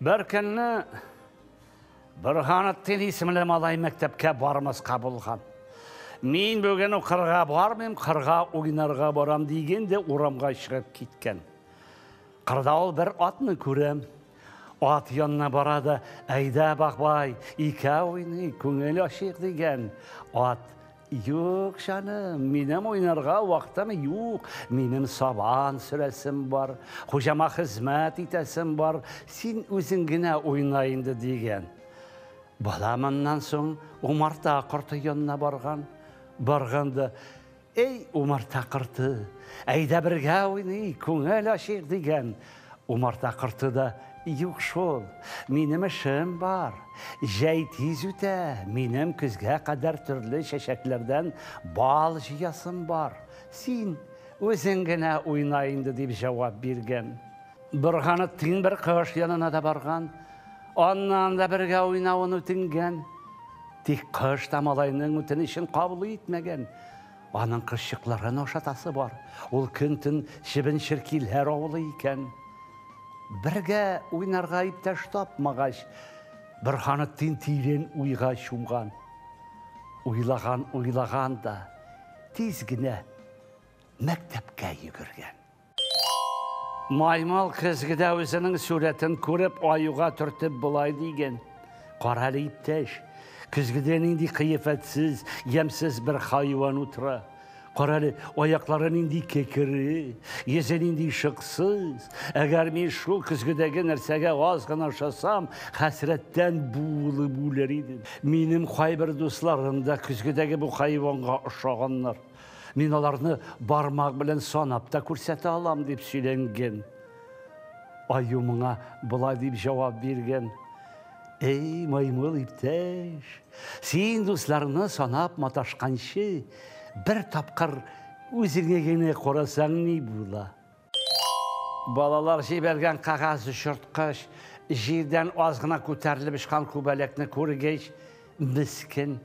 Бер көнне Борһанеттин исемле малай мәктәпкә бармаска булган. Мин бүген укырга бармыйм, кырга уйнарга барам дигән дә урамга чыгып киткән. Кырда ул бер атны күрәм. Ат янына бара да, әйдә, бахбай, икәү уйный, күңел ачыйк дигән. Ат Юк, җаным, минем уйнарга вакытым юк. Минем сабан сөрәсем бар, хуҗама хезмәт итәсем бар. Син үзең генә уйна инде, дигән. Бала моннан соң умарта корты янына барган. Барганда, Эй, умарта корты, әйдә бергә уйный, күңел ачыйк, дигән. Умарта корты да, Юк шул, минем эшем бар. Җәй тиз үтә, минем көзгә кадәр төрле чәчәкләрдән бал җыясым бар. Син үзең генә уйна инде, дип җавап биргән. Борганып тиң бер кош янына да барган, аннан да бергә уйнавын үтенгән. Тик кош та малайның үтенечен кабул итмәгән. Аның кызчыкларын ашатасы бар. Ул көн-төн чебен-черкиләр авылый икән. Бергә уйнарга иптәш тапмагач, Борһаны тин-тирен уйга чумган. Уйлаган-уйлаган да, тиз генә мәктәпкә йөгергән. Маймал көзгедә үзенең сурәтен күреп, аюга төртеп болай диген. Кара әле, иптәш, көзгедә нинди кыяфәтсез, ямьсез бер хайван утыра. Кара әле, аяклары нинди кекере, йөзе нинди шыксыз. Әгәр мин шул көзгедәге нәрсәгә аз гына ошасам, хәсрәттән буылып үләр идем. Минем кайбер дусларым да көзгедәге бу хайванга ошаганнар. Мин аларны бармак белән санап та күрсәтә алам, дип сөйләнгән. Аю моңа болай дип җавап биргән. Эй, маймыл иптәш, син дусларны санап маташканчы, бер тапкыр үзеңә генә карасаң ни була? Балалар җибәргән кагаз чырткыч җирдән аз гына күтәрелеп очкан күбәләкне күргәч, мескен,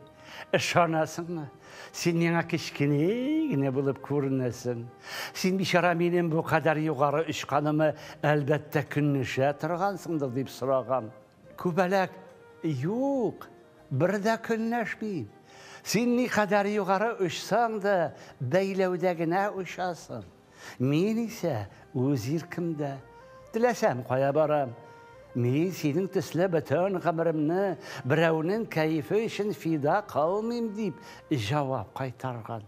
ышанасыңмы? Син миңа кечкенә генә булып күренәсең. Син, бичара, минем бу кадәр югары очканыма, әлбәттә, көнләшә торгансыңдыр, дип сораган. Күбәләк, Юк, бер дә көнләшмим. Син никадәр югары очсаң да, бәйләүдә генә очасың. Мин исә үз иркемдә. Теләсәм кая барам. Мин синең төсле бөтен гомеремне берәүнең кәефе өчен фида кылмыйм, дип җавап кайтарган.